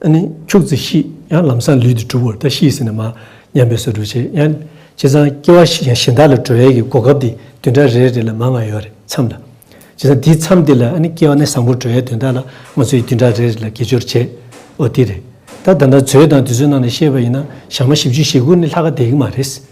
ད་ནི་ཁྱུག་ཙེ་ཤི་ཡང་ལམ་སང་ལུས་འདི་གྲུབ་བོར་ད་ཤི་ཟེར་ནས་མ་ཉམས་པའི་ཟོལ་འགྲོ་བྱེད་ཡང། བྱས་ཙང་སྐྱེ་བ་ཞིག་ཡང་གཞན་དག་ལ་གྲོལ་བའི་གི་གོ་སྐབས་དེ་དུས་འདྲ་རེ་རེ་ལ་མ་མངའ་ཡོད་རེད་མཚམས་ལ། བྱས་ཙང་དེའི་མཚམས་དེ་ལ་ཨ་ནི་སྐྱེ་བ་ནི་བཟང་བོར་གྲོལ་ཡའི་དོན་དག་ལ་ང་ཚོ་ཡི་དུས་འདྲ་རེ་རེ་ལ་དགེ་སྦྱོར་བྱེད་འོ་དེ་རེད། ད་ད་ལྟ་ཚོའི་དང་དུས་ཚོད་ནང་ལ་ཤེས་པ་ཡིན་ན་ཞག་མ་བཞི་བཅུ་ཞེ་དགུ་ནི་ལྷག་ག་དེ་གི་མ་རེད།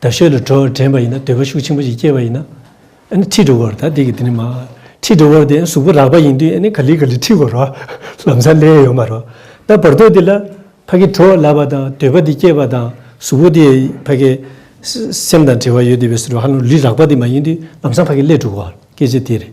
ད་ཤོད་ལ་གྲོ་བྲན་པ་ཡིན་ན་འདོད་པ་ཤུགས་ཆེན་པོ་ཞིག་སྐྱེས་པ་ཡིན་ན། ཨཱ་ནི་ཁྲིད་འགྲོ་དགོས་རེད་ད་འདི་གི་དེ་ནི་མ། ཁྲིད་འགྲོ་དགོས་རེད་གཟུགས་པོ་རགས་པ་ཡིན་དུས་ཨཱ་ནི་ག་ལི་ག་ལི་ཁྲིད་དགོས་རོགས། ལམ་སང་ལས་ཡོད་མ་རོགས། ད་བར་དོ་འདི་ལ། ཕ་གི་གྲོ་ལ་བ་དང་འདོད་པ་འདི་སྐྱེས་པ་དང་གཟུགས་པོ་འདི་ཕ་གི། སེམས་དང་བྲལ་བ་ཡོད་དུས་བས་སུ་རོ་ཧ་ལོ་ལི་རགས་པ་འདི་མ་ཡིན་དུས་ལམ་སང་ཕ་གི་ལས་འགྲོ་དགོས་རེད་སྐད་ཆ་དེ་རེད།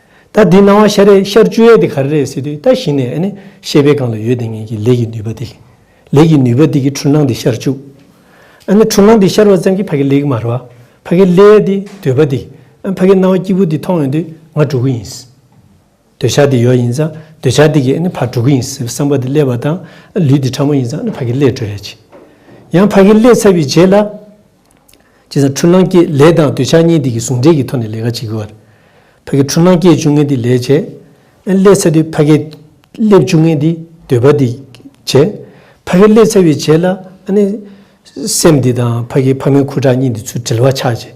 ད་འདི་སྣང་བ་ཤར་རེ་ཤར་བཅུ་ཡས་དེ་ག་རེ་རེད་སྲིད་དུས་ད་གཞི་ནས་ནི་ཤེས་པའི་སྒང་ལ་ཡོད་དེ་ངེད་ཀྱི་ལས་ཀྱི་ནུས་པ་དེ། ལས་ཀྱི་ནུས་པ་དེ་གི་འཁྲུལ་སྣང་དེ་ཤར་བཅུག། ཨ་ནི་འཁྲུལ་སྣང་དེ་ཤར་བ་ཙམ་གྱིས་ཕ་གི་ལེགས་མར་བ། ཕ་གི་ལས་དེ་འདོད་པ་དེ། ཨ་ཕ་གི་སྣང་བ་སྐྱིད་པོ་དེ་མཐོང་ཡོང་དུས་ང་འགྲོ་གི་ཡིན། འདོད་ཆགས་དེ་ཡོད་ཡིན་ཙང་འདོད་ཆགས་དེ་གིས་ཨ་ནི་ཕ་འགྲོ་གི་ཡིན་ཟེར་བའི་བསམ་པ་དེ་སླེབས་པ་དང། ལུས་དེ་ཕྲ་མོ་ཡིན་ཙང་ཨ་ནི་ཕ་གི་ལས་འགྲོ་ཡ་ཆེ། ཡང་ཕ་གི་ལས་ཚར་བའི་རྗེས་ལ། སྤྱིར་བཏང་འཁྲུལ་སྣང་སྐྱེད་ལས་དང་འདོད་ཆགས་གཉིས་འདི་གི་ཟུང་འབྲེལ་གྱི་ཐོག་ནས་ལས་ཀ་བྱེད་དགོས། ཕ་གི་འཁྲུལ་སྣང་སྐྱེད་བཅུག་ངན་འདི་ལས་བྱེད། ཀླད་ཚ་དུས་ཕ་གི་ཀླད་བཅུག་ངན་འདི་འདོད་པ་འདི་བྱེད། ཕ་གི་ཀླད་ཚ་བའི་བྱེད་ལ། སེམས་འདི་དང་ཕ་གི་ཕ་མའི་ཁུ་ཁྲག་གཉིས་འདི་ཚུར་དྲིལ་བ་ཆགས་བྱེད།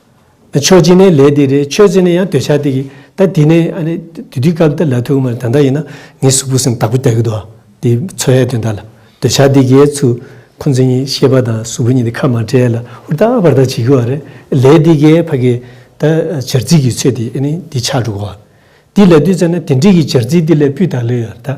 ཆོས་སྦྱིན་ནས་ལས་འདི་རེད་ཆོས་སྦྱིན་ནས་ཡང་འདོད་ཆགས་འདི་གི་ད་དེ་ནས་ཨ་ནི་དུས་དུས་སྐབས་འདི་ལ་ཐུག་མ་ད་ལྟ་ཡིན་ན་ངའི་གཟུགས་པོ་སེམས་བདག་པོ་དེ་གི་དོ་འདི་འཚོལ་ཡས་དོན་དག་ལ་འདོད་ཆགས་འདི་གའི་ཚུལ་ཁོང་ཚོ་གཉིས་ཤེས་པ་དང་གཟུགས་པོ་གཉིས་འདི་ཁ་མ་བྲལ་ལ་ཧུར་ཐག་ཧབར་ཐག་བྱེད་གི་བ་རེད་ལས་འདི་གའི་ཕ་གི་ད་བྱར་རྩིས་གི་ཚོད་འདི་ཨ་ནི་འདི་ཆགས་འགྲོ་གི་བ་འདི་ལ་དུས་ཚོད་ན་དེ་འདྲིས་གི་བྱར་རྩིས་འདི་ལས་སྤུས་དག་ལོས་ཡོད་ད།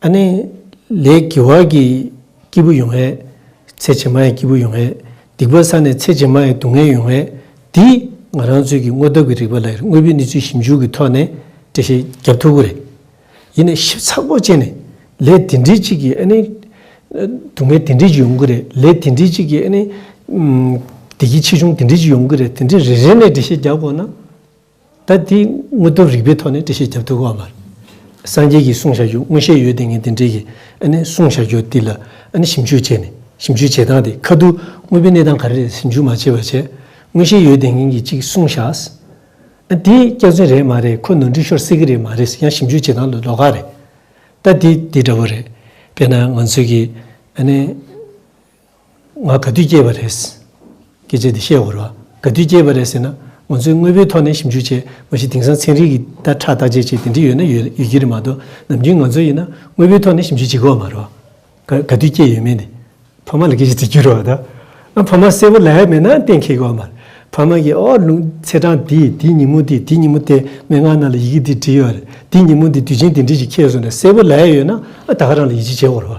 ཨ་ནི། ལས་ཀྱི་བར་གྱི་སྐྱིད་པོ་ཡོང་བས། ཚེ་ཇེ་མང་ཡི་སྐྱིད་པོ་ཡོང་བས། སྡིག་པ་བསགས་ནས་ཚེ་ཇེ་མང་ཡི་སྡུག་བསྔལ་ཡོང་བས། འདིས་ང་རང་ཚོད་ཀྱི་དངོས་སྟོབས་ཀྱི་རིགས་པ་ལ་ཡར་དངོས་པོའི་གནས་ཚུལ་ཞིབ་འཇུག་གི་ཐོག་ནས་འགྲེལ་བཤད་རྒྱབ་ཐུབ་ཀི་རེད། ཡིན་ནས་ཞིབ་ཚགས་པོ་བྱས་ནས། ལས་དེ་འདྲི་གཅིག་གིས་ཨ་ནི། སྡུག་བསྔལ་དེ་འདྲི་གཅིག་ཡོང་གི་རེད། ལས་དེ་འདྲི་གཅིག་གིས་ཨ་ནི། བདེ་སྐྱིད་ཆེ་ཆུང་དེ་འདྲི་གཅིག་ཡོང་གི་རེད་དེ་འདྲི་རེ་རེ་ནས་འགྲེལ་བཤད་རྒྱག་དགོས་ན། ད་དེའི་དངོས་སྟོབས་རིག་པའི་ཐོག་ནས་འགྲེལ་བཤད་བརྒྱབ་ཐུབ་དགོས་བ་མ་རེད། སངས་རྒྱས་ཀྱིས་གསུངས་བྱ་རྒྱུ་མངོན་ཤེས་ཡོད་དེ་ངས་དེ་འབྲེལ་གྱི་གསུངས་བྱ་རྒྱུ་དེ་ལ་ཞིབ་འཇུག་བྱས་ནས་ཞིབ་འཇུག་བྱེད་སྟངས་དེ་ཁ་ཐུག་དངོས་པོའི་གནས་སྟངས་ག་རེ་རེད་ཞིབ་འཇུག་མ་བྱས་པ་བྱས། མངོན་ཤེས་ཡོད་དེ་ངན་གྱིས་གཅིག་གསུངས་བྱས། དེ་སྐྱག་རྫུན་རེད་མ་རེད་ཁོ་ནོར་འཁྲུལ་ཤོར་སྲིད་ཀྱི་རེད་མ་རེད་ཡང་ཞིབ་འཇུག་བྱེད་སྟངས་ལ་ལོག་ཁག་རེད། ད་དེ་དེ་འདྲ་བོ་རེད། དཔེར་ན་ང་ཚོས་ཀྱི་ང་ག་དུས་སྐྱེས་པ་རེད། སྐད་ཆ་འདི་བཤད་འོར་བ་ག་དུས་སྐྱེས་པ་རེད་ཟེར་ན། ང་ཚོས་དངོས་པོའི་ཐོག་ནས་ཞིབ་འཇུག་བྱས་མ་གཞི་དེང་སང་ཚན་རིག་གིས་བརྡ་ཁྲ་བརྟག་དཔྱད་བྱས་དེ་འདྲི་ཡོད་ན་ཡོད་ཡོད་ཀྱི་རེད་མ་གཏོགས་ནམ་རྒྱུན་ང་ཚོ་ཡིན་ན་དངོས་པོའི་ཐོག་ནས་ཞིབ་འཇུག་བྱེད་དགོས་མ་རེད། ག་ག་དུས་སྐྱེས་ཡོད་མེད་འདི་ཕ་མ་ལ་སྐད་ཆ་དེ་བསྐྱུར་བ་དང། ཨ་ཕ་མ་གསལ་པོ་ལ་ཡ་མེད་ན་གཏན་འཁེལ་དགོས་མ་རེད། ཕ་མ་གིས་ཨོ་ལུང་ཚེ་དྲང་འདིས་འདི་ཉིན་མོ་འདིས་འདི་ཉིན་མོ་དེས་མན་ངག་རྣམས་ལ་ཡི་གེ་འདི་བྲིས་ཡོད་རེད་འདི་ཉིན་མོ་འདིས་དུས་ཆེན་འདི་འདྲི་ཞིག་ཁྱེད་ཚོ་ནས་གསལ་པོ་ལ་ཡ་ཡོད་ན་ཨ་ད་ཧ་རང་ལ་ཡིད་ཆེས་བྱས་འོར་བ།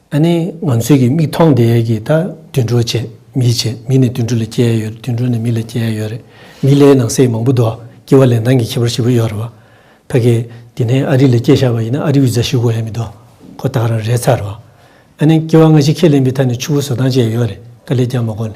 ཨ་ནི་ང་ཚོས་ཀྱི་མིག་མཐོང་དེ་གི་ད་དུད་འགྲོ་བྱས་མི་བྱས་མི་ནི་དུད་འགྲོ་ལས་སྐྱེ་ཡོད་རེད་དུད་འགྲོ་ནི་མི་ལས་སྐྱེ་ཡོད་རེད་མི་ལས་ནང་གསེས་མང་པོ་འདུག་སྐྱེ་བ་ལས་ནང་གི་ཁྱད་པར་བཞི་པོ་ཡོད་རེད་བ། ད་གི་དེ་ནས་ཨ་རི་ལས་སྐྱེ་ཤར་བ་ཡིན་ན་ཨ་རི་བི་ཛ་ཞུ་དགོས་ཡ་མི་འདུག་ཁོ་ད་ག་རང་རེད་ཚར་བ། ཨ་ནི་སྐྱེ་བ་སྔ་ཕྱི་ཁས་ལེན་པའི་ཐ་ནས་ཆུ་བོ་བཟོ་སྟངས་བཅས་ཡོད་རེད་ད་ལས་ཀྱང་མ་གོ་ནས་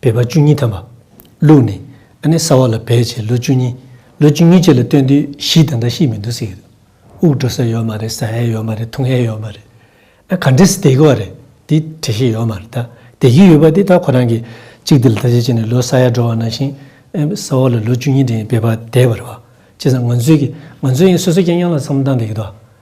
འབད་པ་བཅུ་གཉིས་དམ་པ། ལུགས་ནི། ཨ་ནེ་སྲ་བ་ལ་བས་བྱས་ལོ་བཅུ་གཉིས། ལོ་བཅུ་གཉིས་བྱས་ལ་སྟོན་དུས་བཞི་དང་འདྲ་ཤིས་མི་འདུག་ཟེར། དབུགས་འགྲོ་ས་ཡོད་མ་རེད་ཟ་ཧའི་ཡོད་མ་རེད་འཐུང་ཧའི་ཡོད་མ་རེད། ཨ་ག་འདྲེ་སྡེ་གི་བ་རེད་དེ་དྲི་ཤེས་ཡོད་མ་རེད་ད་སྡེ་རྒྱུ་ཡོད་པ་དེ་ད་ཁོ་རང་གི་གཅིག་སྡེ་ལ་ད་ཅི་བྱས་ནས་ལོ་ས་ཡ་འགྲོ་བ་ནང་བཞིན་ཨ་ནེ་སྲ་བ་ལ་ལོ་བཅུ་གཉིས་འདྲེ་ཡིན་བས་པ་དེ་བ་རེད་བ། བྱས་ཙང་ང་ཚོའི་གི་ང་ཚོའི་ཡིན་སོ་སོ་ཀྱང་དབྱངས་ལ་འཚམས་མདངས་དེ་གི་ད།